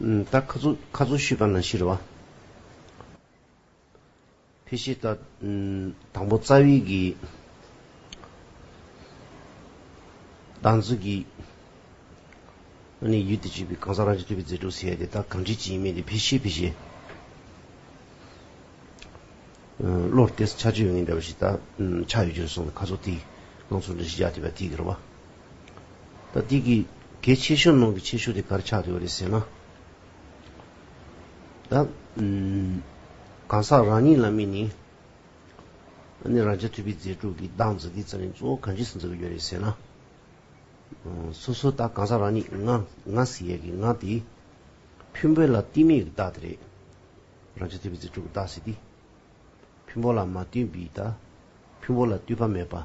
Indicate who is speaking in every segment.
Speaker 1: ད་ཁ་ཚུགས་ཁ་ཚུགས་ཤུས་པ་ན་ཤི་རུ་བ། ཕི་ཤི་ད། དང་པོ་རྩ་དབྱིག་གི། གདངས་ཚུལ་གྱི། ཨ་ནི་ཡུལ་དུ་བྱས་པའི་གང་ཟག་རང་གི་ཐོས་པའི་རྫས་དྲུག་ཟེར་ཡ་དེ་དག་གང་བྲིས་ཅི་ཡིན་མིན་དེ་ཕི་ཤི་ཕི་ཤི། བློར་བལྟས་སུ་ཆ་ཆོས་ཡོད་ངེས་འདྲ་བ་ཞིག་ད། ཆ་ཡོད་རྒྱུར་སོང་བས་ཁ་ཚུགས་ཐིག། ངང་ཚུལ་འདྲ་ཞིག་ཡ་དེ་བ་ཐིག་གི་རུ་བ། ད་འདི་གི་གལ་ཆེ་ཤོས་ནང་གི་ཆེ་ཤོས་དེ་གར་ཆགས་ཡོད་རེད་ཟེར་ན། ད་གང་ཟག་རང་ཉིད་ལ་དམིགས་ནས་ནི་རང་རྒྱལ་ཐུབ་པའི་མཛེས་སྒྲུག་གི་གདངས་འཛིན་གྱི་རྩལ་ནི་གཙོ་བོ་གང་ཇི་སྲིད་འཛིན་གྱི་ཡོད་རེད་ཟེར་ན། སོ་སོ་ད་གང་ཟག་རང་ཉིད་ང་ང་ཟེར་ཡས་ཀྱི་ང་དེ་ཕུན་བོད་ལ་བསྟུན་མེད་ཀྱི་བདག་དེ་རེད། རང་རྒྱལ་ཐུབ་པའི་མཛེས་སྒྲུག་གི་བདག་ཟེར་དུས། ཕུན་བོ་ལ་མ་བསྟུན་པའི་ད་ཕུན་བོ་ལ་བསྟུན་པ་མེད་པ།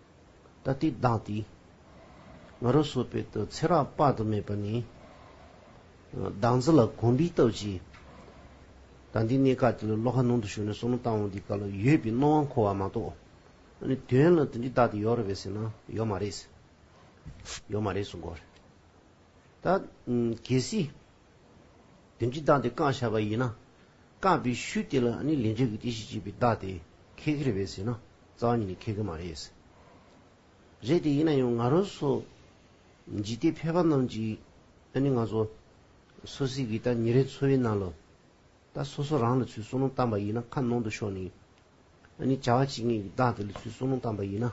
Speaker 1: ད་ལྟའི་བདག་དེ་ང་རོ་སོ་བེད་དུ་ཚེ་རགས་དཔག་ཏུ་མེད་པ་ནི། བདག་འཛི་ལ་གོམས་པའི་སྟབས་ཀྱིས། ད་འདི་གནས་སྐབས་དེ་ལ་བློ་ཁ་ནང་དུ་ཞུགས་ནས་བསོད་ནམས་བཏང་འོང་འདི་སྐབས་ལ་ཡོད་པའི་སྣང་བ་འཁོར་བ་མ་གཏོགས། ནི་དོན་ལ་དེ་འདྲའི་བདག་དེ་ཡོད་རེད་བས་ཟེར་ན་ཡོད་མ་རེད། ཡོད་མ་རེད་གསུང་དགོས་རེད། ད། གལ་སྲིད། དོན་གྱི་བདག་དེ་བཀང་བྱ་བ་ཡིན་ན། བཀང་བའི་ཤུལ་དེ་ལ་ནི་ལས་འབྲས་ཀྱི་དེ་ཞེས་བགྱི་བའི་བདག་དེ་ཁེགས་ཀྱི་རེད་བས་ཟེར་ན་རྩ་བ་ཉིད་ནས་ཁེགས་ཀྱི་མ་རེད། རེད་དེ་ཡིན་ན་ཡང་ང་རང་སོགས་འཇིག་རྟེན་ཕལ་པ་རྣམས་ཀྱིས་ནི་ང་ཚོ་སོ་སྲིད་ཀྱི་ད་ཉེ་རེག་འཚོ་བའི་ནང་ལ་ད་སོ་སོ་རང་ལ་ཚུལ་བསོག་ནོངས་བཏང་པ་ཡིན་ན་ཁ་ནང་དུ་ཤོག་ནི་ནི་བྱ་བ་བྱེད་མཁན་གྱི་བདག་དེ་ལ་ཚུལ་བསོག་ནོངས་བཏང་པ་ཡིན་ན་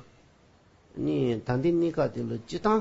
Speaker 1: ནི་ད་འདི་གནས་སྐབས་དེ་ལ་སྤྱི་བཏང།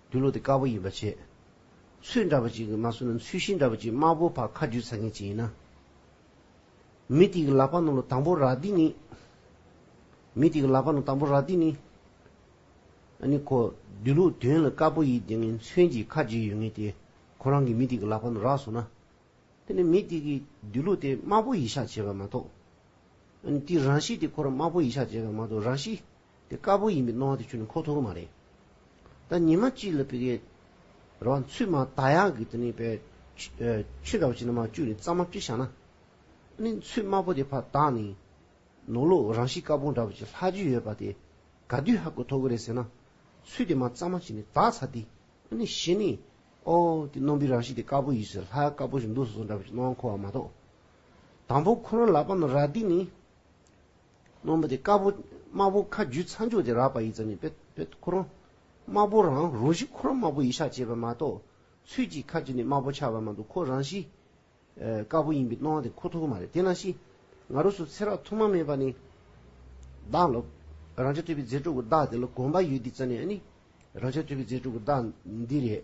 Speaker 1: འདུལ་ལོ་དེ་དཀར་པོ་ཡིན་པར་བྱེད། ཚུལ་འདྲ་བ་ཅིག་གིས་མ་བསུ་ན་ཚུལ་ཤིང་འདྲ་བ་ཅིག་དམར་པོ་བར་ཁ་རྒྱུད་ཚ་མཁན་ཅིག་ཡིན་ན། མི་དེ་གི་ལག་པ་ནང་ལོ་དང་པོ་རག་འདི་ནི། མི་དེ་གི་ལག་པ་ནང་དང་པོ་རག་འདི་ནི། ཨ་ནི་ཁོ་འདུལ་ལོ་དོན་ལ་དཀར་པོ་ཡིས་དེ་ངན་མཚོན་གྱིས་ཁ་རྒྱུད་ཡོད་ངེས་ཏེ་ཁོ་རང་གིས་མི་དེ་གི་ལག་པ་ནང་རག་བསུ་ན། དེ་ནི་མི་དེ་གིས་འདུལ་ལོ་དེ་དམར་པོ་ཡིས་ཤག་བྱས་པ་མ་གཏོགས། ཨ་ནི་དེའི་རང་གཤིས་དེ་ཁོ་རང་དམར་པོ་ཡིས་ཤག་བྱས་པ་མ་གཏོགས་རང་གཤིས། དེ་དཀར་པོ་ཡིན་པའི་སྣང་བ་དེ་ཁྱོད་ནི་ཁོག་ཐོག་གི་མ་རེད། ད་ཉི་མ་གཅིག་ལ་བི་གའི་ར་བ་འཚུད་མ་ད་ཡག་གི་དེ་ནི་བའི་ཆུ་འདྲ་བ་ཅིག་ན་མ་བཅུག་ནས་གཙང་མ་བཀྲི་བཞག་ན། ནི་འཚུད་དམར་པོ་དེ་ཕ་བཏགས་ནས་ནོར་ལུག་རང་བཞིན་དཀར་པོ་འདྲ་བ་ཅིག་ལྷག་རྒྱུ་ཡོད་པ་དེ་ག་དུས་ཧ་གོ་ཐོག་གི་རེད་ཟེར་ན། ཚུད་དེ་མ་གཙང་མ་བྱས་ནས་བཏགས་ཚར་ཏེ། ནི་གཞི་ནི། ཨོ། དེ་རྣོན་པོའི་རང་བཞིན་དེ་དཀར་པོ་ཡིན་ཟེར་ལྷ་ཡག་དཀར་པོ་ཞིག་འདུག་སོ་སོ་འདྲ་བ་ཅིག་སྣང་བ་འཁོར་བ་མ་གཏོགས། དང་པོ་ཁོ་རང་ལག་པ་ན་ར་དེ་ནི། རྣོན་པོ་དེ་དཀར་པོ་དམར་པོ་ཁ་རྒྱུས་ཚ་མཆུ་དེ་རགས་པ་ཡི་ཙམ་ནི་པད་པད་ཁོ་རང་དམར་པོ་རང་རོ་བཞི་ཁོ་རང་དམར་པོ་ཡི་ཤ་བྱེད་པ་མ་གཏོགས་ཚུལ་གྱིས་ཁ་རྒྱུས་ནི་དམར་པོ་ཆགས་པ་མ་འདུག་ཁོ་རང་བཞི། དཀར་པོ་ཡིན་པའི་སྣང་བ་དེ་ཁོ་ཐུག་མ་རེད་དེ་ན་ཤི་ང་རོ་སུ་ཚེ་རགས་ཐུག་མ་མེད་པ་ནི་བདག་ལ་རང་ཅག་ཐོས་པའི་རྫས་དྲུག་གི་བདག་དེ་ལ་གོམས་པ་ཡོད་དེ་ཙམ་ནི་ཨ་ནི་རང་ཅག་ཐོས་པའི་རྫས་དྲུག་གི་བདག་འདི་རེད་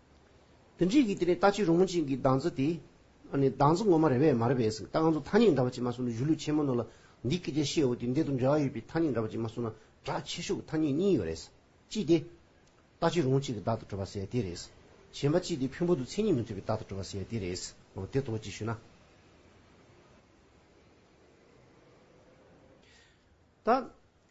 Speaker 1: དོན་གཅིག་གིས་དེ་ནི་ལྟ་ཅི་རུང་མོ་ཅན་གྱི་གདངས་ཚུལ་དེ། ནི་གདངས་ཚུལ་ངོ་མ་རེ་བས་མ་རེ་བས་ཟིན་གདངས་ཚུལ་ཐ་སྙད་འདྲ་བ་ཅིག་མ་གསུངས་ན་གཞུ་ལུགས་ཆེན་མོ་རྣམས་ལ་འདི་སྐད་ཅེས་བཤད་འོ་དེ་འདི་དང་འབྲེལ་བ་ཡོད་པའི་ཐ་སྙད་འདྲ་བ་ཅིག་མ་གསུངས་ན་གྲགས་ཆེ་ཤོས་ཀྱི་ཐ་སྙད་གཉིས་ཡོད་རེད། གཅིག་དེ། ལྟ་ཅི་རུང་གཅིག་གི་བདག་ཏུ་གྲུབ་པ་ཟེར་དེ་རེད། གཞན་པ་གཅིག་དེ་ཕུན་ཕུང་དུ་མཚན་ཉིད་མི་མཐུན་པའི་བདག་ཏུ་གྲུབ་པ་ཟེར་དེ་རེད། འོ་དེ་དོགས་ཅི་ཞུས་ན། ད།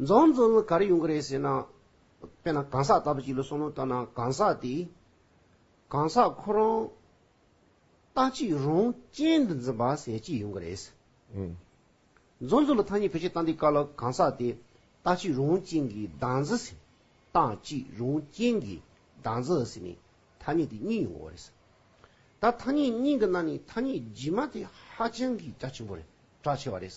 Speaker 1: རྫོང་རྫོང་ལ་ག་རེ་ཡོང་གི་རེད་ཟེར་ན། དཔེར་ན་གང་ཟག་ལྟ་བུ་ཞིག་ལ་བསམ་བློ་བཏང་ན་གང་ཟག་དེས། གང་ཟག་ཁོ་རང་ལྟ་ཅི་རང་ཅན་དུ་འཛིན་པ་ཟེར་གྱི་ཡོང་གི་རེད། རྫོང་རྫོང་ལ་ཐ་སྙད་བེད་སྤྱད་བཏང་དུས་ག་ལ་གང་ཟག་དེས་ལྟ་ཅི་རང་ཅན་གྱི་བདག་འཛིན་ཟེར། བཏང་ཅི་རང་ཅན་གྱི་བདག་འཛིན་ཟེར་ནས་ཐ་སྙད་དེ་གཉིས་ཡོང་བ་རེད། ད་ཐ་སྙད་གཉིས་ཀྱི་ནང་ནས་ཐ་སྙད་རྗེས་མ་དེ་ཧ་ཅང་གི་རྒྱ་ཆེན་པོ་རེད་གྲགས་ཆེ་བ་རེད།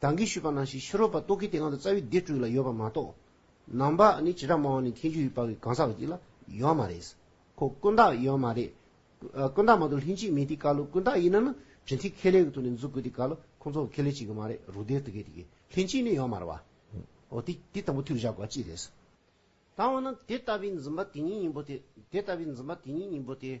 Speaker 1: བདག་གིས་ཞུས་པ་ན་ཞིག་ཕྱི་རོལ་པ་རྟོག་གེའི་དེ་སྔ་དུ་རྩ་བའི་སྡེ་དྲུག་ལ་ཡོད་པ་མ་གཏོགས། ནང་པ་ནི་བྱེ་བྲག་སྨྲ་བ་ནི་མཁས་འཇུག་ཡུལ་དཔག་གི་གང་ཟག་ཅིག་ལ་ཡོད་མ་རེད། ཁོ་ཀུན་བརྟགས་ཡོད་མ་རེད། ཀུན་བརྟགས་མ་གཏོགས་ལྷན་ཅིག་མེད་དེ་ཀ་ལོ་ཀུན་བརྟགས་ཡིན་ན་ནི་རིན་ཐིག་ཁེ་ལས་ཀྱི་ཐུགས་ནས་འཛུགས་དགོས་དེ་ཀ་ལོ་ཁོང་ཚོ་ཁེ་ལས་བྱེད་ཀྱི་མ་རེད་རུ་སྡེར་དུ་གས་དེ་གས་ལྷན་ཅིག་ནི་ཡོད་མ་རེད་བ། འོ་དེ་དེ་དང་པོ་ཐུགས་བཞག་དགོས་པ་ཅི་རེད། ད་འོ་ན་དེ་ལྟ་བུའི་འཛིན་པ་དེ་ཉིད་སྙིང་པོ་དེ་དེ་ལྟ་བུའི་འཛིན་པ་དེ་ཉིད་སྙིང་པོ་དེ།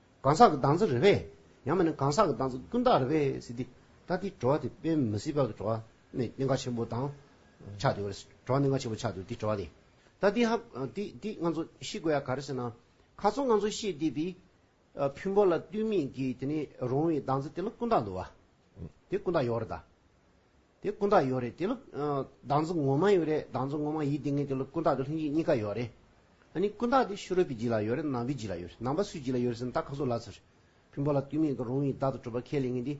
Speaker 1: གང་ཟག་གི་གདངས་ཚོད་རེད་པས། ཡང་མིན་ན་གང་ཟག་གི་གདངས་ཚོད་ཀུན་བཏགས་རེད་པས་སྲིད་དེ། ད་ལྟའི་བྲོ་བ་དེ་དཔེ་མི་སྲིད་པ་གི་བྲོ་བ་ནི་གནད་འགག་ཆེན་པོ་དང་ཆགས་འདུག་རེད། བྲོ་བ་གནད་འགག་ཆེན་པོ་ཆགས་འདུག་དེ་བྲོ་བ་ལས། ད་འདི་ཧ། འདི་ང་ཚོ་ཤེས་དགོས་ཡ་ག་རེད་ཟེར་ན། ག་ཚོད་ང་ཚོ་ཤེས་བསྡད་པའི། ཕུན་པོ་ལ་བསྟུན་མིན་གྱི་དེ་ནི་རུང་བའི་གདངས་ཚོད་དེ་ལ་ཀུན་བཏགས་འདུག་བ། དེ་ཀུན་བཏགས་ཡོད་རེད་ད། དེ་སྐུ་འདག་ཡོད་རེད་དེ་ལོ། བདག་འཛིན་ངོ་མ་ཡོད་རེད་བདག་འཛིན་ངོ་མ་ཡིད་དེ་ངེས་དེ་ལོ་སྐུ་འདག་དེ་ལྷུན་གྱིས་གཉིས་ཀ་ཡོད་རེད། ཨ་ནི་སྐུ་འདག་དེ་ཤུ་རོལ་པའི་རྗེས་ལ་ཡོད་རེད་ནང་པའི་རྗེས་ལ་ཡོད་རེད་ནང་པ་སུའི་རྗེས་ལ་ཡོད་རེད་ཟེར་ན་ད་ཁ་ཟུར་ལ་ཟེར། ཕུན་པོ་ལ་ལྟོས་མེད་ཀྱི་རུང་བའི་བདག་ཏུ་གྲུབ་པ་ཁས་ལེན་ངེས་འདི།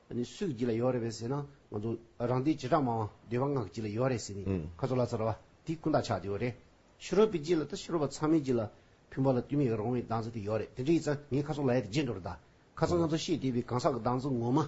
Speaker 1: ཨ་ནི་སུའི་རྗེས་ལ་ཡོད་རེད་བས་ཟེར་ན་ང་ཚོ་རང་སྡེའི་བྱེ་བྲག་མང་བ་འདོད་པ་སྔགས་རྗེས་ལ་ཡོད་རེད་ཟེར་ནས་ཁ་ཟུར་ལ་ཟེར་བ་དེ་སྐུ་འདག་ཆགས་དེ་ཡོད་རེད། ཤུ་རོལ་པའི་རྗེས་ལ་དང་ཤུ་རོལ་པ་ཚང་མའི་རྗེས་ལ། ཕུན་པོ་ལ་ལྟོས་མེད་ཀྱི་རུང་བའི་བདག་འཛིན་དེ་ཡོད་རེད་དེ་འདྲ་ཡིན་ཙང་ངའི་ཁ་ཟུར་ལ་ཡོད་དེ་རྗེས་འགྲོ་རེད་ད། ཁ་ཚང་ང་ཚོ་ཤེས་བདེ་བའི་གང་ཟག་གི་བདག་འཛིན་ངོ་མ།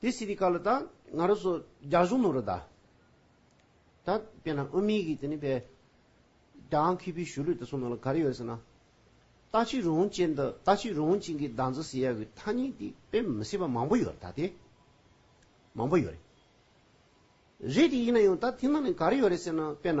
Speaker 1: དེ་སྲིད་དེ་ག་ལ་དང་ང་རོ་སོ་རྒྱ་གཞུང་ནོ་རོ་ད། ད་པེ་ན་ཨོ་མི་གི་དེ་ནི་པེ། དང་ཁི་པི་ཞུ་ལུས་ད་སོ་ནོ་ལ་ག་རེ་ཡོད་སེ་ན། ད་ཆི་རུང་ཅན་ད་ད་ཆི་རུང་ཅན་གི་དང་ཛི་སི་ཡ་གི་ཐ་ནི་དེ་པེ་མི་སྲིད་པ་མང་པོ་ཡོད་རེ་ད་དེ། མང་པོ་ཡོད་རེ། རེ་དེ་ཡིན་ན་ཡང་ད་དེ་ན་ནི་ག་རེ་ཡོད་རེ་སེ་ན་པེ་ན།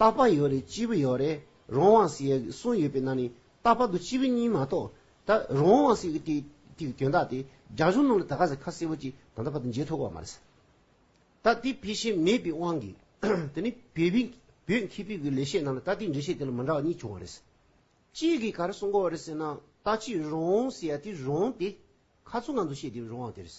Speaker 1: རྟག་པ་ཡོད་རེད་སྤྱི་བོ་ཡོད་རེད་རང་དབང་སྲིད་ཡག་གི་གསུངས་ཡོད་པའི་ནང་ནས་རྟག་པར་དུ་སྤྱི་བོ་གཉིས་མ་གཏོགས་ད་རང་དབང་སྲིད་ཡག་གི་དེའི་དོན་དག་དེ་རྒྱ་གཞུང་རྣམས་ལ་ད་ག་ཟེ་ཁ་གསལ་བོ་གཅིག་ད་ལྟ་བར་དུ་འཇལ་ཐུབ་ཀ་མ་རེད། ད་དེ་བེད་ཤེས་མེད་པའི་དབང་གིས་དེ་ནི་བོད་བོད་བོད་མཁས་པའི་གི་ལས་བྱེད་རྣམས་ལ་ད་དེའི་འགྲེལ་བཤད་དེ་ལ་མི་འདྲ་བ་གཉིས་བྱུང་བ་རེད། གཅིག་གིས་ག་རེ་གསུངས་གོ་རེད་ཟེར་ན་ད་སྤྱིའི་རང་དབང་སྲིད་ཡག་དེ་རང་དེ་ཁ་ཚུགས་ངང་དུ་བཤད་དེ་རང་དབང་དེ་རེད།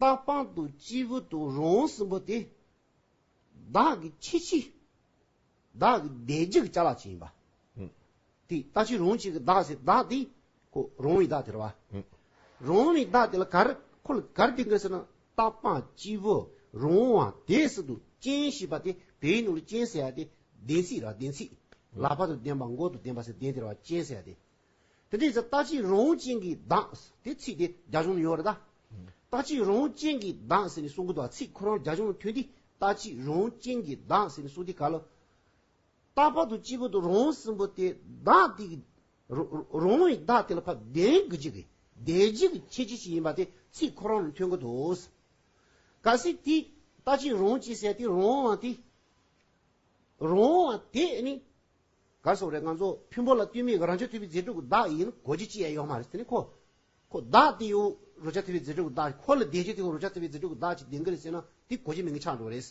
Speaker 1: རྟག་པང་དུ་སྤྱི་བོ་དང་རོང་བོ་སྲིན་པོ་སྟེ། བདག་གི་ཁྱེད་ཕྱི། བདག་གི་བདེ་འཇིགས་བྱ་ལ་བྱིན་པ། དེ་ལྟ་ཕྱི་རོང་གཅིག་གི་བདག་སྲིད་བདག་དེ། ཁོ་རོང་བའི་བདག་དེར་བ། རོང་བའི་བདག་དེ་ལ་གར་ཁོ་ལ་གར་དེ་འགལ་ཟེར་ན་རྟག་པང་སྤྱི་བོ་རོང་བ་དེའི་སྲིད་དུ་སྤྱན་ཞེས་པ་དེ་དེའི་ནང་ལ་སྤྱན་ཟེར་བ་དེ་བདེན་ཚིག་ར་བདེན་ཚིག་ལ་བ་དང་ལྡན་པ་མགོ་དང་ལྡན་པ་སྲིད་བདེན་དེར་བ་སྤྱན་ཟེར་བ་དེ། དེ་དེའི་ཚེ་རྟག་ཅིག་རོང་བོ་ཅན་གྱིས་གདངས། དེ་ཚིག་དེ་རྒྱ་གཞུང་ནས་ཡོང་བ་རེད་ད། རྟག་ཅིག་རོང་བོ་ཅན་གྱིས་གདངས་ཟེར་ནས་གསུངས་གི་འདུག་ཚིག་ཁོ་རང་རྒྱ་གཞུང་ལ་མཐུན་ཏེ་རྟག་ཅིག་རོང་བོ་ཅན་གྱིས་གདངས་ཟེར་ནས་གསུངས་དེ་ག་ལ། རྟག་པར་དུ་སྤྱི་བོ་དང་རོང་བོ་སྲིན་པོ་དེ་གདངས་དེ་གི། རོང་བོ་ཡི་གདངས་དེ་ལ་ཕབ་བདེན་གྱི་རྗེས་ཀྱི་བདེ་རྗེས་ཀྱི་ཁྱད་ཆོས་ཤིག་ཡིན་པ་དེ་ཚིག་ཁོ་རང་ལ་མཐུན་གི་འདུག། གལ་སྲིད་དེས་རྟག་ཅིག་རོང་བོ་ཅན་ཟེར་དེ་རོང་བོ་དེ། རོང་བོ་དེས་ནི། གར་སོང་རེད་ང་ཚོ་ཕུན་པོ་ལ་བསྟུན་མི་གི་རང་ཆོས་ཐེ་བི་རྗེ་ཕྲུག་གི་བདག་ཡིན་གོ་རྒྱུ་ཅི་ཡ་ཡོག་མ་རེད་དེ་ནི་ཁོ་ཁོ་བདག་དེ་ཡོང་རོ་ཆ་ཐེ་བི་རྗེ་ཕྲུག་གི་བདག་ཁོ་ལ་བདེན་རྒྱུ་དེ་ཡོང་རོ་ཆ་ཐེ་བི་རྗེ་ཕྲུག་གི་བདག་ཅིག་བདེན་གི་རེད་ཟེར་ན་དེ་གོ་རྒྱུ་མིན་གི་ཆགས་འགྲོ་རེད།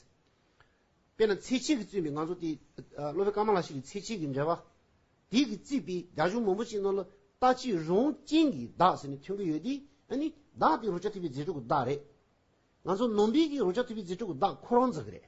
Speaker 1: དཔེར་ན་ཚེ་ཆེན་གི་བཙུན་པའི་ང་ཚོ་དེ་སློབ་དཔོན་ཀརྨ་ལགས་ཞིག་གི་ཚེ་ཆེན་གི་འགྲེལ་པ་དེ་གི་བརྩིས་པའི་རྒྱ་གཞུང་མང་པོ་ཅིག་ནང་ལ་ལྟ་ཅི་རུང་ཅན་གི་བདག་ཟེར་ནས་ཐོན་གི་ཡོད་དེ་ཨ་ནི་བདག་དེ་རོ་ཆ་ཐེ་བི་རྗེ་ཕྲུག་གི་བདག་རེད། ང་ཚོ་ནོར་འབིག་གིས་རོ་ཆ་ཐེ་བི་རྗེ་ཕྲུག་གི་བདག་ཁོ་རང་འཛག་གི་རེད།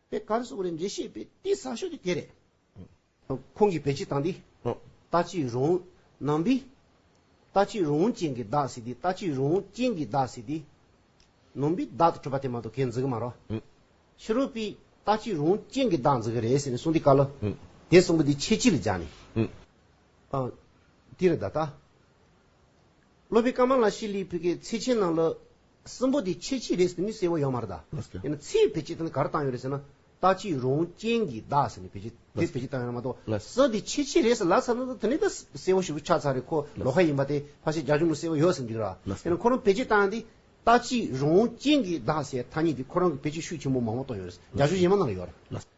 Speaker 1: པའི་གར་སོགས་རེད་འགྲེལ་བཤད་པས་དེ་ཟ་ཤོས་དེ་དེ་རེད། ཁོང་གིས་བེད་སྤྱི་དང་དེ་ལྟ་ཅི་རུང། ནང་པའི། ལྟ་ཅི་རུང་ཅན་གྱི་བདག་ཟེར་དེ་ལྟ་ཅི་རུང་ཅན་གྱི་བདག་ཟེར་དེ། ནང་པའི་བདག་ཏུ་གྲུབ་པ་དེ་མ་གཏོགས་ཁས་འཛིན་གི་མ་རོགས། ཕྱི་རོལ་པའི་ལྟ་ཅི་རུང་ཅན་གྱི་བདག་འཛིན་གི་རེད་ཟེར་ནས་གསུངས་དེ་བཀའ་ལོ། དེ་གསུངས་པ་དེ་ཆེད་སྤྱི་ལ་སྦྱར་ནས། དེ་རེད་ད་ལྟ། སློབ་པའི་སྐར་མ་ལ་ཤི་ལིའི་བུ་གའི་ཚེ་ཆེན་ནང་ལོ། སྲིན་པོ་དེ་ཆེ་ཆི་རེད་ཟེར་ནི་གསལ་བོ་ཡོད་མ་རེད་ད། ཡིན་ན་ཚེའི་བེ་ཅི་དེ་ནི་གར་བཏང་ཡོད་རེད་ཟེར་ན་ལྟ་ཅི་རུང་རྐྱེན་གྱིས་བདག་ཟེར་ནི་བེ་ཅི་དེ་བེ་ཅི་བཏང་ཡོད་ན་མ་གཏོགས་སྲིན་དེ་ཆེ་ཆི་རེད་ཟེར་ལབ་ཚར་ན་དེ་ནི་ད་གསལ་བོ་ཞིག་ཏུ་ཆགས་ཚར་རེད་ཁོ་ལོ་ཁ་ཡིན་པ་དེ་ཕ་ཤེད་རྒྱག་ཆུང་ནི་གསལ་བོ་ཡོད་ཟེར་འགྲིག་ར། ཡིན་ན་ཁོ་རང་བེ་ཅི་བཏང་འདི་ལྟ་ཅི་རུང་རྐྱེན་གྱིས་བདག་ཟེར་ཐ་སྙད་དེ་ཁོ་རང་གི་བེ་ཅི་ཤུགས་ཆེན་པོ་མང་བོ་བཏོན་ཡོད་རེད་རྒྱག་ཆུང་གཞན་མ་ནང་ཡོད་ར།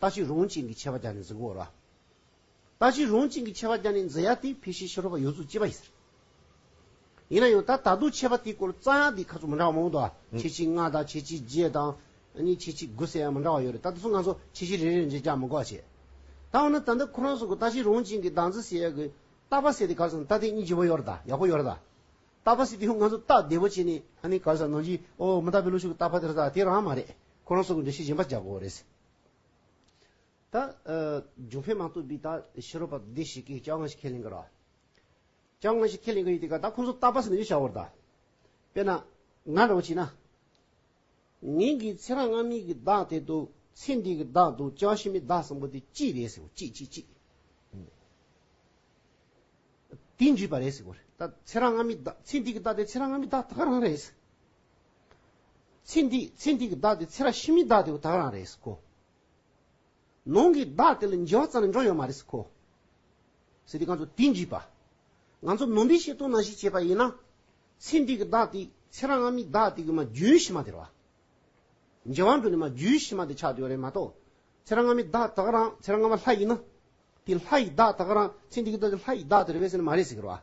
Speaker 1: ལྟ་ཅི་རུང་ཅན་གྱི་ཆད་པ་བརྒྱ་ནི་འཛིན་གོ་ར། ལྟ་ཅི་རུང་ཅན་གྱི་ཆད་པ་བརྒྱ་ནི་འཛིན་ཡ་དེ་ཕལ་ཤེས་ཤེས་རོགས་པ་ཡོད་ཚུལ་གཅེས་པ་ཡིན་ཟེར། ཡིན་ན་ཡང་ད་ད་དུང་ཆད་པ་དེའི་སྐོར་རྩ་ཡང་དེའི་ཁ་ཚུགས་མི་འདྲ་བ་མང་དུ་བ། ཆེ་ཆེ་ལྔ་དང་ཆེ་ཆེ་བརྒྱད་དང། གཉིས་ཆེ་ཆེ་དགུ་ཟེར་ཡང་མི་འདྲ་བ་ཡོད་རེད་ད་དེ་ཚོ་ང་ཚོ་ཆེ་ཆེ་རེ་རེར་འབྲེལ་རྒྱག་མི་གོ་བ་བྱས། ད་འོ་ན་ད་འདི་ཁོ་རང་གསུང་གི་ལྟ་ཅི་རུང་ཅན་གྱི་གདངས་ཚིག་ཟེར་ཡ་གི། ལྟ་བ་ཟེར་དེ་ག་ལ་སོང་ལྟ་དེ་གཉིས་ལྗིད་པོ་ཡོད་རེད་ད་ཡག་པོ་ཡོད་རེད་ད། ལྟ་བ་ཟེར་དེ་ཡང་ང་ཚོ་ལྟ་བདེ་པོ་བྱས་ནས་ཧ་ནི་ག་ལ་ཟེར་ནང་བཞིན་ཨོ་མི་ལྟ་བའི་ལོ་ཤུགས་ཀྱི་ལྟ་བ་དེ་རེད་ད་དེ་རང་མ་རེད། ཁོ་རང་གསུང་གི་འབྲེལ་ཤེས་གཞན་པ་རྒྱག་གོ་རེ་ཟེར། ད་འབྱུང་འཕེལ་མ་གཏོགས་པའི་ད་ཕྱི་རོལ་པ་སྡེ་ཞིག་གིས་ཅང་ང་ཞིག་ཁས་ལེན་གི་ར། ཅང་ང་ཞིག་ཁས་ལེན་གི་ཡོད་དེ་ག་ད་ཁོང་ཚོ་རྟག་པ་ཟེར་ནས་ཡོད་བྱ་བར་ད། དཔེར་ན། ང་འདྲ་བོ་བྱས་ན། ངེད་ཀྱིས་ཚེ་རང་སྔ་མའི་གི་བདག་དེ་དུ་ཚེ་འདིའི་གི་བདག་དུ་ཅང་ཕྱི་མའི་བདག་གསང་པོ་དེ་གཅིག་རེད་ཟེར་བ་གཅིག་གཅིག་གཅིག། དེ་འདྲིས་པ་རེད་ཟེར་བ་རེད་ད་ཚེ་རང་སྔ་མའི་བདག་ཚེ་འདིའི་གི་བདག་དེ་ཚེ་རང་སྔ་མའི་བདག་ད་ག་རང་རེད། ཚེ་འདི་ཚེ་འདི་གི་བདག་དེ་ཚེ་རབས་ཕྱི་མའི་བདག་དེ་བ་དག་རང་རེད་ཀོ། ནང་གི་བདག་དེ་ལ་འཇལ་བ་ཙམ་ལས་འགྲོ་ཡོད་མ་རེད་ཀོ། ཟེར་དུས་ང་ཚོ་དེ་འཇིགས་པ། ང་ཚོ་ནོར་འདི་ཤེས་དོན་ནང་བཞིན་བྱས་པ་ཡིན་ན། ཚེ་འདི་གི་བདག་དེ་ཚེ་རང་སྔ་མའི་བདག་དེ་གི་མ་རྒྱུན་ཕྱི་མ་དེར་བ། འཇལ་བ་འགྲོ་ནས་མ་རྒྱུན་ཕྱི་མ་དེ་ཆགས་དུས་བ་རེད་མ་གཏོགས། ཚེ་རང་སྔ་མའི་བདག་དག་རང་ཚེ་རང་སྔ་མ་ལྷ་ཡིན་ན། དེ་ལྷ་ཡི་བདག་དག་རང་ཚེ་འདི་གི་བདག་དེ་ལྷ་ཡི་བདག་དེ་རེད་བས་ཟེར་ནས་མ་རེད་ཟེར་གི་རེད་བ།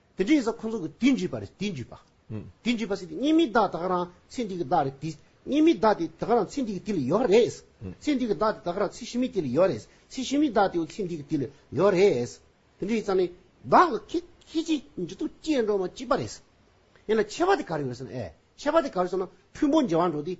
Speaker 1: དེ་འདྲའི་ས་ཁོ་ཚོ་གི་དུས་འཇིག་པ་རེད་དུས་འཇིག་པ། དུས་འཇིག་པ་ཟེར་དུས་གཉིས་མི་བདག་དག་རང་ཚེ་འདི་གི་བདག་རེད་དུས་གཉིས་མི་བདག་དེ་དག་རང་ཚེ་འདི་གི་དུས་ལས་ཡོལ་བ་རེད། ཚེ་འདི་གི་བདག་དེ་དག་རང་ཚེ་ཕྱི་མའི་དུས་ལས་ཡོལ་བ་རེད། ཚེ་ཕྱི་མའི་བདག་དེའོ་ཚེ་འདི་གི་དུས་ལས་ཡོལ་བ་རེད། དེ་འདྲའི་ས་ནི་བདག་གི་ཁྱེད་ཁྱེད་ཀྱི་མཇུག་ཏུ་སྐྱེ་འགྲོ་མ་སྐྱེས་པ་རེད། ཡིན་ན་ཆད་པ་དེ་ག་རེ་ཡོད་ཟེར་ན་ཨེ་ཆད་པ་དེ་ག་རེ་ཟེར་ན་ཕུང་པོ་འཇལ་བར་འགྲོ་དུས།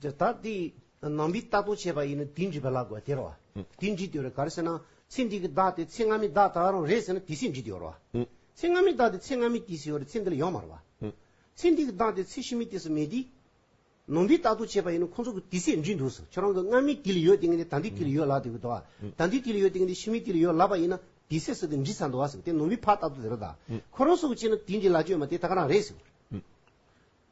Speaker 1: འདི་དག་དེ་ནང་པའི་རྟགས་དང་བཅས་པ་ཡིན་ན་དེ་འདྲི་བ་ལ་དགོས་དེར་བ། དེ་འདྲི་དེ་རེད་ག་རེ་ཟེར་ན་ཚེ་འདི་གི་བདག་དེ་ཚེ་སྔ་མའི་བདག་དག་རང་རེད་ཟེར་ན་དེ་སྲིད་འདྲི་དེ་ཡོར་བ། ཚེ་སྔ་མའི་བདག་དེ་ཚེ་སྔ་མའི་དུས་སུ་ཡོར་ཚེ་འདི་ལ་ཡོང་མར་བ། ཚེ་འདི་གི་བདག་དེ་ཚེ་ཕྱི་མའི་དུས་སུ་མེད་དེ། ནང་པའི་རྟགས་དང་བཅས་པ་ཡིན་ན་ཁོང་ཚོ་གི་དུས་སྲིད་འདྲི་འདུག་ཟེར་ཁྱོད་རང་གི་སྔ་མའི་དུས་ལ་ཡོད་དེ་ངས་ད་འདི་དུས་ལ་ཡོད་ལབ་དེ་གི་འདུག་ད་འདི་དུས་ལ་ཡོད་དེ་ངས་འདི་ཕྱི་མའི་དུས་ལ་ཡོད་ལབ་པ་ཡིན་ན་དེ་སྲིད་སུ་དེ་འདྲི་ས་འདུག་ཟེར་དེ་ནང་པའི་ཕ་རྟགས་དང་དེ་རུ་དག་ཁོ་རང་སུ་གི་བྱས་ན་དེ་འདྲི་ལ་སྤྱོད་མ་དེ་དག་རང་རེད་ཟེར།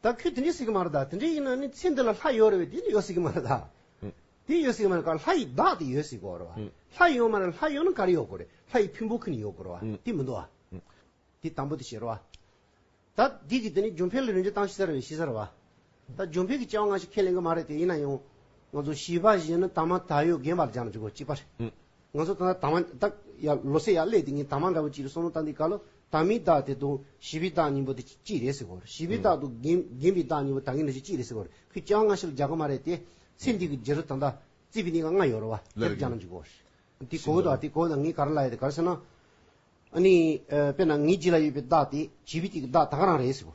Speaker 1: ད་ཁྱོད་དེ་འདྲའི་སྲིད་ཀྱི་མ་རེད་ད་དེ་འདྲའི་ཡིན་ན་ནི་ཚེ་འདི་ལ་ལྷ་ཡོད་རེད་བས་དེ་འདྲའི་ཡོད་སྲིད་ཀྱི་མ་རེད་ད། དེ་ཡོད་སྲིད་ཀྱི་མ་རེད་ཀར་ལྷ་ཡི་བདག་དེ་ཡོད་སྲིད་དགོ་རེད་བ། ལྷ་ཡོད་མ་རེད་ལྷ་ཡོད་ན་ཀར་ཡོད་དགོ་རེད་ལྷ་ཡི་ཕུན་པོ་ཁི་ནི་ཡོད་དགོ་རེད་བ་དེ་མི་འདུག་བ། དེ་དང་པོ་དེ་བྱེད་རེད་བ། ད་འདི་གི་དེ་ནི་ཇོ་འཕེལ་ལ་རིན་ཆེན་བཏང་ཤི་ས་རེད་བས་ཤི་ས་རེད་བ། ད་ཇོ་འཕེལ་གྱི་སྐྱེ་བ་སྔ་ཕྱི་ཁས་ལེན་གི་མ་རེད་དེ་ཡིན་ན་ཡང། ང་ཚོ་བྱིས་པ་གཞན་ནི་དྭངས་མ་ད་ཡོད་རྒན་པ་ལ་སྦྱར་ན་ཅི་དགོ་གཅིག་པ་རེད། ང་ཚོ་ད་ལྟ་དྭངས་མ་ད་ཡ་ལོ་སེ་ཡ་ཀླད་དེ་ངས་དྭངས་མ་འདྲ་བོ་གཅིག་རེད་སོང་ན་ད་འདི་ག་ལོ་དང་མི་རྟག་དེ་དང་བྱིས་པའི་རྟགས་གཉིས་པོ་དེ་གཅིག་རེད་ཟེར་གོ། བྱིས་པའི་རྟགས་དང་རྒན་པའི་རྟགས་གཉིས་པོ་ད་ངས་ནི་གཅིག་རེད་ཟེར་གོ། ཁོས་ཀྱང་སྔ་ཕྱི་ལ་རྒྱག་གི་མ་རེད་དེ། ཚེ་འདི་གི་རྗེས་སུ་ད་ལྟ་རྩིས་པའི་གནས་ཀ་ང་ཡོད་རེད་བ། དེ་རུ་རྒྱག་ན་འཇུག་གོ། དེ་གོ་དང་དེ་གོ་དང་ངས་ག་རེ་ལ་ཡོད་དེ་ག་རེ་ཟེར་ན། ཨ་ནི། དཔེར་ན་ངའི་རྗེས་ལ་ཡོད་པའི་རྟགས་དེ་བྱིས་པའི་དེ་གི་རྟགས་ད་ག་རང་རེད་ཟེར་གོ།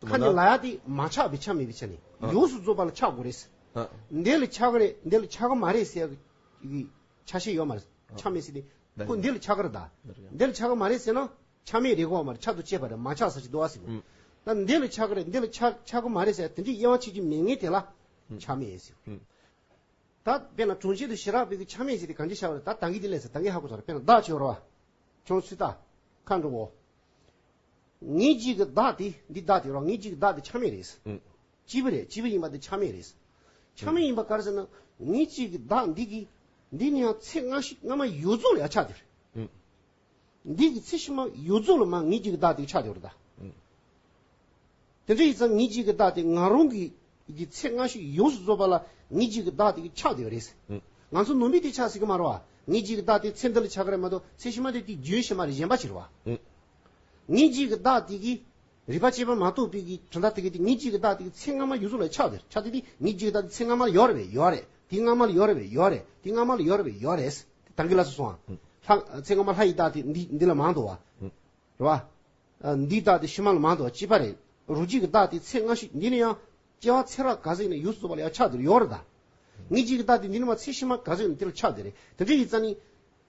Speaker 1: ཁ་ནི་ལ་ཡ་སྟེ་མ་ཆགས་པའི་ཆ་མེད་པའི་ཆ་ནས་ཡོངས་སུ་རྫོགས་པ་ལ་ཆགས་དགོས་རེད། འདི་ལ་ཆགས་ཀ་རེད་འདི་ལ་ཆགས་ཀ་མ་རེད་ཟེར་གི་ཆ་ཤས་ཡོད་མ་རེད་ཆ་མེད་ཟེར་ཏེ་ཁོ་འདི་ལ་ཆགས་ཀ་རེད་ད། འདི་ལ་ཆགས་ཀ་མ་རེད་ཟེར་ན་ཆ་མེད་རེད་གོ་མ་རེད་ཆ་དང་བཅས་པ་རེད་མ་ཆགས་ཟེར་གྱི་འདུག་ཟེར་གོ། ད་འདི་ལ་ཆགས་ཀ་རེད་འདི་ལ་ཆགས་ཀ་མ་རེད་ཟེར་དེ་འདྲའི་དབྱེ་བ་ཕྱེད་ཀྱི་མེད་ངེས་དེ་ལ་ཆ་མེད་ཟེར། ད་དཔེར་ན་གྲོང་ཁྱེར་དུ་ཞི་རགས་པའི་གི་ཆ་མེད་ཟེར་ཏེ་གང་ཅི་ཆགས་པ་རེད་ད་ད་གི་དེ་ལས་ཟེར་ད་གི་ཧ་གོ་ཟེར་བ་དཔེར་ན་བདག་ཆེ་བ་རོ་བ་ཁྱོད་སུས་ད་ཁ་འགྲོ་བོ། ངེད་གཅིག་གི་བདག་དེ་འདི་བདག་དེ་རོ་ངེད་གཅིག་གི་བདག་དེ་ཆ་མེད་རེད། སྐྱིད་པོ་རེད་སྐྱིད་པོ་ཡིན་པ་དེ་ཆ་མེད་རེད། ཆ་མེད་ཡིན་པ་ག་རེ་ཟེར་ན་ངེད་གཅིག་གི་བདག་འདི་གི་འདི་ནི་ཡང་ཚེ་སྔ་ཤི་སྔ་མ་ཡོད་རྫོགས་ལ་ཡང་ཆ་དེ་རེད། འདི་གི་ཚེ་ཕྱི་མ་ཡོད་རྫོགས་ལ་མ་ངེད་གཅིག་གི་བདག་དེ་གི་ཆ་དེ་རེད་ད། དེ་འདྲ་ཡིན་ཙང་ངེད་གཅིག་གི་བདག་དེ་ང་རང་གི་གི་ཚེ་སྔ་ཤི་ཡོངས་སུ་རྫོགས་པ་ལ་ངེད་གཅིག་གི་བདག་དེ་གི་ཆ་དེ་རེད། ང་ཚོ་ནོར་མི་དེ་ཆ་ཟིག་གི་མ་རོ། ངེད་གཅིག་གི་བདག་དེ་ཚེ་འདི་ལ་ཆ་ག་རེ་མ་གཏོགས་ཚེ་ཕྱི་མ་དེ་དེ་རྒྱུན་ཕྱི་མ་རེ་གཞན་པ་ཕྱིར་བ། ཉིན་གཅིག་གི་བདག་དེ་གིས་རིག་པ་ཅན་པ་མ་གཏོགས་པའི་གྲི་མཐའ་དེ་གས་ཏེ་ཉིན་གཅིག་གི་བདག་དེ་གིས་ཚེ་སྔ་མ་ཡུལ་ཚོ་ལ་ཆགས་ཏེ་ཆགས་ཏེ་དེ་ཉིན་གཅིག་གི་བདག་དེ་ཚེ་སྔ་མ་ལ་ཡོར་བས་ཡོར་རེ་དེ་སྔ་མ་ལ་ཡོར་བས་ཡོར་རེ་དེ་སྔ་མ་ལ་ཡོར་བས་ཡོར་རེས་དེ་དང་གི་ལ་སོ་སོའང། ལྷ། ཚེ་སྔ་མ་ལྷ་ཡི་བདག་དེ་འདི་འདི་ལ་མང་དུ་བ། རེ་བ། འདིའི་བདག་དེ་ཕྱི་མ་ལ་མང་དུ་བ་ཅི་བ་རེ་རུ་གཅིག་གི་བདག་དེ་ཚེ་སྔ་ཞིག་འདི་ནི་ཡང། སྐྱེ་བ་ཚེ་རགས་ག་ཟེ་ནི་ཡུལ་ཚོ་ཚོ་བ་ལ་ཡང་ཆགས་འདིར་ཡོར་རེ་ད། ཉིན་གཅིག་གི་བདག་དེ་འདི་ནི་མ་ཚེ་ཕྱི་མ་ག་ཟེ་ནི་དེ་ལ་ཆགས་འདི་རེ་དེ་འདྲ་ཡི་རྩ་ནི།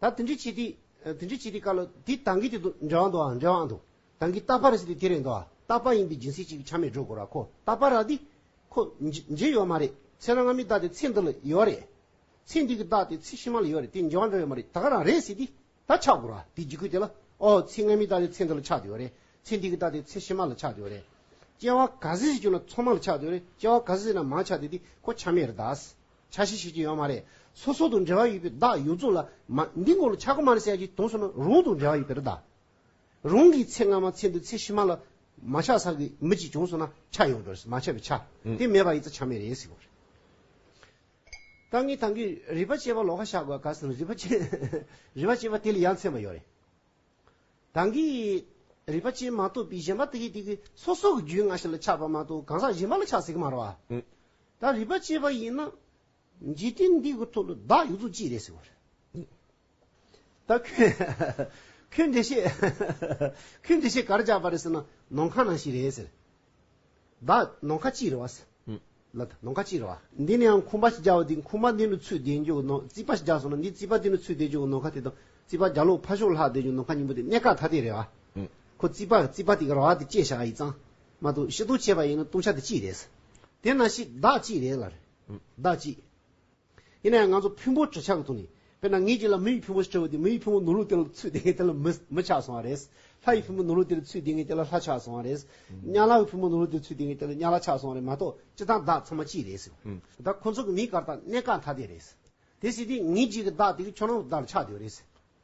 Speaker 2: ད་དེ་འདྲའི་སྤྱི་ཏི། དེ་འདྲའི་སྤྱི་ཏི་བཀའ་ལོ། དེ་དང་གི་དེ་དུ་འབྲེལ་བ་འདུག་ཨ། འབྲེལ་བའང་འདུག། དང་གི་རྟག་པ་རེད་ཟེར་དུས་དེ་རེད་འདུག་ཨ། རྟག་
Speaker 1: པ་ཡིན་པའི་སྦྱིན་སྲེག་ཅིག་ཆ་མེད་སྒྲོལ་དགོས་ར་ཁོ། རྟག་པ་ར་དེ། ཁོ། འཇལ་ཡོད་མ་རེད། ཚེ་རང་ང་མི་རྟག་དེ་ཚེ་འདི་ལ་ཡོད་རེད། ཚེ་འདི་གི་རྟག་དེ་ཚེ་ཕྱི་མ་ལ་ཡོད་རེད་དེ་འཇལ་བ་འདྲ་ཡོད་མ་རེད་ད་ག་རང་རེད་ཟེར་དུས་ད་ཆགས་དགོས་ར་དེ་འཇིགས་སྐུལ་དེ་ལ། ཨོ། ཚེ་ང་མི་རྟག་དེ་ཚེ་འདི་ལ་ཆགས་དུས་ཡོད་རེད། ཚེ་འདི་གི་རྟག་དེ་ཚེ་ཕྱི་མ་ལ་ཆགས་དུས་ཡོད་རེད། སྐྱེ་བ་ག་ཟེ་ཟེར་གྱུར་ན་ཚོགས་མ་ལ་ཆགས་དུས་ཡོད་རེད་སྐྱེ་བ་ག་ཟེ་ཟེར་ན་མང་ཆགས་དུས་དེ་ཁོ་ཆ་མེད་རེད་དཱ། ཆ་ཤས་ཤེས་ཀྱི་ཡོད་མ་རེད། སོ་སོ་དང་འབྲེལ་བ་ཡོད་པའི་བདག་ཡོད་རྫོགས་ལ། མ། འདི་ངོ་ལ་ཆག་སྒོ་མ་རེད་ཟེར་ཡ་གྱི་དོན་སོ་ན་རང་དང་འབྲེལ་བ་ཡོད་པའི་རི་དྭགས། རང་གི་ཚེ་སྔ་མ་ཚེ་འདི་ཚེ་ཕྱི་མ་ལ། མ་ཆག་ས་གི་མི་གཅིག་བྱུང་སོང་ན་ཆག་ཡོང་གི་རེད་མ་ཆག་པའི་ཆག། དེ་མེད་པ་ཡི་ཚེ་ཆག་མེད་རེད་ཟེར་གི་རེད། ད་ངས་ད་གིས་རིག་པ་སྐྱེས་པ་ལོག་ཁ་བཤགས་དགོས་ག་ཟེར་ན་རིག་པ་སྐྱེས། རིག་པ་སྐྱེས་པ་དེ་ལས་ཡ་མཚན་པ་ཡོད་རེད། གང་གིས་རིག་པ་ཅན་མ་གཏོགས་པའི་གཞན་པ་དེ་དེ་གི་སོ་སོ་གི་རྒྱུད་སྔ་ཕྱི་ལ་ཆགས་པ་མ་གཏོགས་གང་ཟག་གཞན་པ་ལ་ཆགས་ཟིག་མ་རོ། ད་རིག་པ་སྐྱེས་པ་ཡིན་ན་འཇིག་རྟེན་འདི་གི་ཐོག་ལ་བདག་ཡོད་ཚོད་ཅི་རེད་ཟེར་བ་རེད། ད་ཁྱོད་ཁྱོད་འདི་བཤད་ཁྱོད་འདི་བཤད་ག་རེ་རྒྱག་པ་རེད་ཟེར་ན་ནང་ཁ་ནང་ཞིག་རེད་ཟེར། བདག་ནོངས་ཁ་ཅི་རེ་བ། བདག་ནོངས་ཁ་ཅི་རེ་བ། འདི་ནི་ཡང་ཁུངས་པ་ཞིག་རྒྱག་བ་འདི་ཁུངས་པ་འདི་ནི་ཚུད་བསྡད་འཇུག་གི་ནོངས་རྩིས་པ་ཞིག་རྒྱག་སོང་ན་འདི་རྩིས་པ་འདི་ནི་ཚུད་བསྡད་འཇུག་གི་ནོངས་ཁ་དེ་དང་རྩིས་པ་རྒྱ་ལོག་ཕ་ཤོག་ལྷག་བསྡད་འཇུག་ནོངས་ཁ་གཉིས་པོ་དེ་གནད་འགག་ཐ་དད་རེད་བ། ཁོ་རྩིས་པ་རྩིས་པ་དེ་ག་ར་བ་དེ་བཅད་བཞག་ཡིག་ཚང་མ་བཏུང་ཤི་བཏུང་བྱས་པ་ཡིན་ན་བཏུང་བྱ་དེ་ཅི་རེད། དེ་ན་ཤིག་བདག་ཅི་རེད་ལ་རེད། བདག་ཅི། ཡིན་ན་ཡང་ང་ཚོ་ཕུན་པོ་བྲི་ཆག་གི་ཐོག་ནས་དཔེར་ན་ངེད་ཀྱིས་ལ་མི་ཡི་ཕུན་པོ་ཞེས་བྲི་བ་དེ་མི་ཡི་ཕུན་པོ་ནོར་ལུག་དེ་ལ་ཚུད་བསྡད་ངེས་དེ་ལ་མི་མི་ཆགས་སོང་བ་རེད། ལྷ་ཡི་ཕུན་པོ་ནོར་ལུག་དེ་ལ་ཚུད་བསྡད་ངེས་དེ་ལ་ལྷ་ཆགས་སོང་བ་རེད། གཉའ་ལག་གི་ཕུན་པོ་ནོར་ལུག་དེ་ལ་ཚུད་བསྡད་ངེས་དེ་ལ་གཉའ་ལག་ཆགས་སོང་བ་རེད་མ་གཏོགས་སྤྱིར་བཏང་བདག་ཚང་མ་གཅིག་རེད། བདག་ཁོ་ཚོ་གི་མིའི་གར་སྟངས་གནད་འགག་མཐའ་དེ་རེད། དེ་སྲིད་དེ་ངེད་གཅིག་གི་བདག་དེ་གི་ཁྱོད་རང་གི་བདག་ལ་ཆགས་བསྡད་པ་རེད།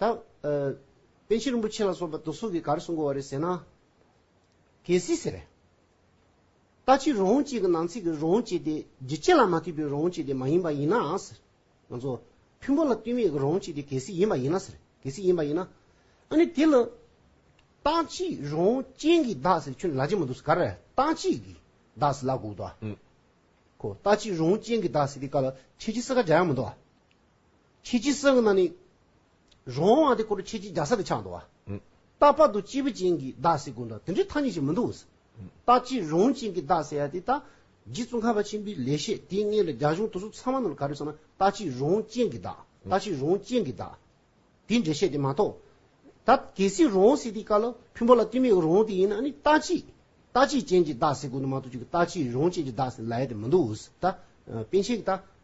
Speaker 1: ད། པན་ཆེན་རིན་པོ་ཆེ་ལ་སོགས་པ་དོལ་སོག་གིས་ག་རེ་གསུངས་དགོས་བ་རེད་ཟེར་ན། གལ་སྲིད་ཟེར། ལྟ་ཅི་རོང་བཅས་ཀྱི་ནང་ཚིག་གི་རོང་བཅས་དེ་བརྗིད་ཆེ་ལ་མ་ཐུག་པའི་རོང་བཅས་དེ་མ་ཡིན་པ་ཡིན་ནའང་ཟེར། ང་ཚོ་ཕུན་པོ་ལ་བསྟུན་མེད་ཀྱི་རོང་བཅས་དེ་གལ་སྲིད་ཡིན་པ་ཡིན་ན་ཟེར། གལ་སྲིད་ཡིན་པ་ཡིན་ན། ཨ་ནི་དེ་ལ། ལྟ་ཅི་རོང་ཅན་གྱི་བདག་ཟེར་ཁྱོད་ནི་ལ་ཅི་མ་འདུག་ཟེར་ག་རེ། ལྟ་ཅི་གི་བདག་ཟེར་ལ་གུག་འདུག་ཨ། ཁོ་ལྟ་ཅི་རོང་ཅན་གྱི་བདག་ཟེར་དེ་ག་ལ་ཁྱེད་ཀྱི་སེར་ཁ་འཇགས་ཡག་མི་འདུག་ཨ། ཁྱེད་ཀྱིས་སེམས་ནང་ནས། རང་དབང་དེ་སྐོར་ཁྱེད་ཀྱིས་རྒྱ་ས་ལ་ཆགས་འདུག་བ། རྟག་པར་དུ་སྐྱེས་བུ་ཅན་གྱི་བདག་ཟེར་དགོས་འདྲ་དེ་འདྲའི་ཐ་སྙད་ཅིག་མི་འདུག། རྟག་སྐྱེས་རང་ཅན་གྱི་བདག་ཟེར་ཡ་དེ་ད། རྗེ་བཙུན་ཁ་བ་ཆེན་པོའི་ལེགས་བཤད་དེའི་མངལ་ལ་རྒྱ་གཞུང་དོལ་ཚོགས་ཚང་མ་རྣམས་ལ་ག་རེ་བསམ་ན་རྟག་སྐྱེས་རང་ཅན་གྱི་བདག། རྟག་སྐྱེས་རང་ཅན་གྱི་བདག། དེ་འདྲས་བཤད་དེ་མ་གཏོགས། ད་གལ་སྲིད་རང་ཟེར་དེའི་སྐབས་ལ་ཕུན་པོ་ལ་བསྟུན་མེད་རང་དེ་ཡིན་ན་ནི་རྟག་སྐྱེས། རྟག་སྐྱེས་ཅན་གྱི་བདག་ཟེར་དགོས་འདུག་མ་གཏོགས་ཅིག་རྟག་སྐྱེས་རང་ཅན་གྱི་བདག་ཟེར་ལ་ཡ་དེ་མི་འདུག། ད། དཔེ་ཆའི་ད།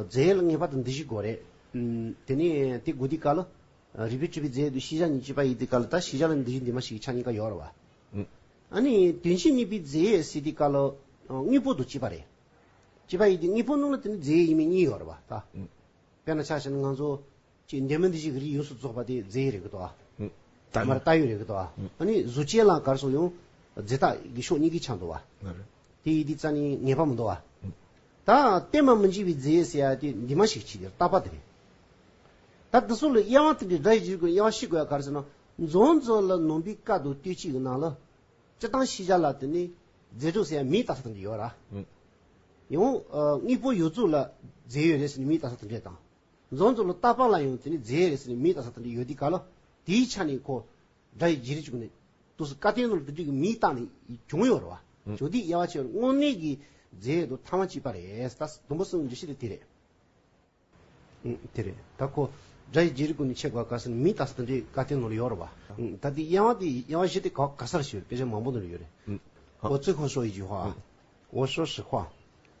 Speaker 1: རྫས་ཡོད་ལ་ངེས་པར་དུ་འདི་བཞི་དགོས་རེད། དེ་ནས་དེ་དགོས་དུས་གལ། རིག་པའི་སྤྲུལ་པའི་རྫས་དུ་ཤེས་བྱ་གཉིས་སྤྱོད་པ་ཡིན་དུས་གལ། ད་ཤེས་བྱ་ལ་འདི་བཞི་འདི་མ་ཞིག་གི་ཆ་གཉིས་ཀ་ཡོད་རེད། ཨ་ནི་དོན་ཕྱིར་གཉིས་པའི་རྫས་ཡོད་སྲིད་དུས་གལ། དངོས་པོ་དུ་སྤྱོད་པ་རེད། སྤྱོད་པ་ཡིན་དུས་དངོས་པོ་སྣང་ལ་དེ་ནི་རྫས་ཡོད་ཡིན་མིན་གཉིས་ཡོད་རེད། དཔེར་ན་ཆ་ཤས་ནི་ང་ཚོ། ཅེས་འདས་མ་འདས་བཞི་གི་རིགས་ཡོངས་སུ་རྫོགས་པ་དེ་རྫས་ཡི་རིགས་ཀྱི་དོ། དེ་མ་རྟགས་ཡུལ་རིགས་ཀྱི་དོ། ནི་གཟུགས་ཅན་ལ་གར་སོགས་ཡང། རྫས་རྟགས་ཀྱི་ཕྱོགས་གཉིས་ཀྱི་ཆ་འདོ་བ། དེ་ཡི་དེ་རྩ་ནི་ངེས་པར་མི་འདོ་བ། ད་གཏན་མ་མི་འཇིག་པའི་རྫས་ཡས་སེ་ཡ་དེ་འདི་མ་ཞིག་ཅིག་དེར་རྟག་པ་དེ་རེད། ད་དེ་སོགས་ལ་དབྱེ་བ་སྟེ་འདི་སྒྲ་ཡི་རྗེས་ཀྱི་དབྱེ་བ་ཤེས་དགོས་པ་ག་རེ་ཟེར་ན། རྫོང་རྫོགས་ལ་ནོངས་པའི་བཀའ་དུ་སྟོད་གཅིག་གི་ནང་ལ། སྤྱི་དང་ཤེས་བྱ་ལ་དེ་ནི་རྫས་གྲུབ་སེ་ཡ་མིའི་རྟགས་ས་དང་འདྲེས་ཡོད་ར། ཡང། དངོས་པོ་ཡོད་རྫོགས་ལ་རྫས་ཡོད་རེད་སེ་ནི་མིའི་རྟགས་ས་དང་འདྲེས་དང། རྫོང་གཙོ་ལོ་རྟ་པང་ལ་ཡོང་དུས་ནས་རྫའི་རིགས་ནི་མིའི་རྟ་ས་ཐང་དུ་ཡོད་དུས་ག་ལ་དེའི་ཆ་ནས་ཁོ་དགྲ་ཡི་རྗེས་རི་བཅུག་ནས་ཏུ་སུ་ཀ་ཏའི་ནོར་བདུད་རིགས་ཀྱི་མིའི་རྟགས་ནི་བྱུང་ཡོད་རེད་བ། ཇོ་ཏིའི་དབྱེ་བ་ཕྱེ་བར་དངོས་གནས་ཀྱི་རྫའི་རིགས་དུ་ཐང་བ་གཅིག་པ་རེད་ད་ཟླུམ་པོ་གསུམ་འདྲི་ཤེས་རིགས་དེ་རེད། དེ་རེད་ད་ཁོ་དགྲ་ཡི་རྗེས་རི་ཀུན་ནས་ཕྱེ་དགོས་ག་ས་ནི་མིའི་རྟགས་ས་ཐང་འདྲེས་ཀ་ཏའི་ནོར་ཡོད་རེད་བ། ད་ལྟའི་དབྱེ་བ་དེ་དབྱེ་བ་བཞི་སྟེ་ག་ག་སར་ཕྱེ་བའི་དཔེ་ཆ་མང་པོ་འདི་ལ་ཡོད་རེད། འོ་ཙི་ཧོ་ཤོ་ཡི་ཇུ་བྷ། འོ་ཤོ་ཧྲི་བྷ།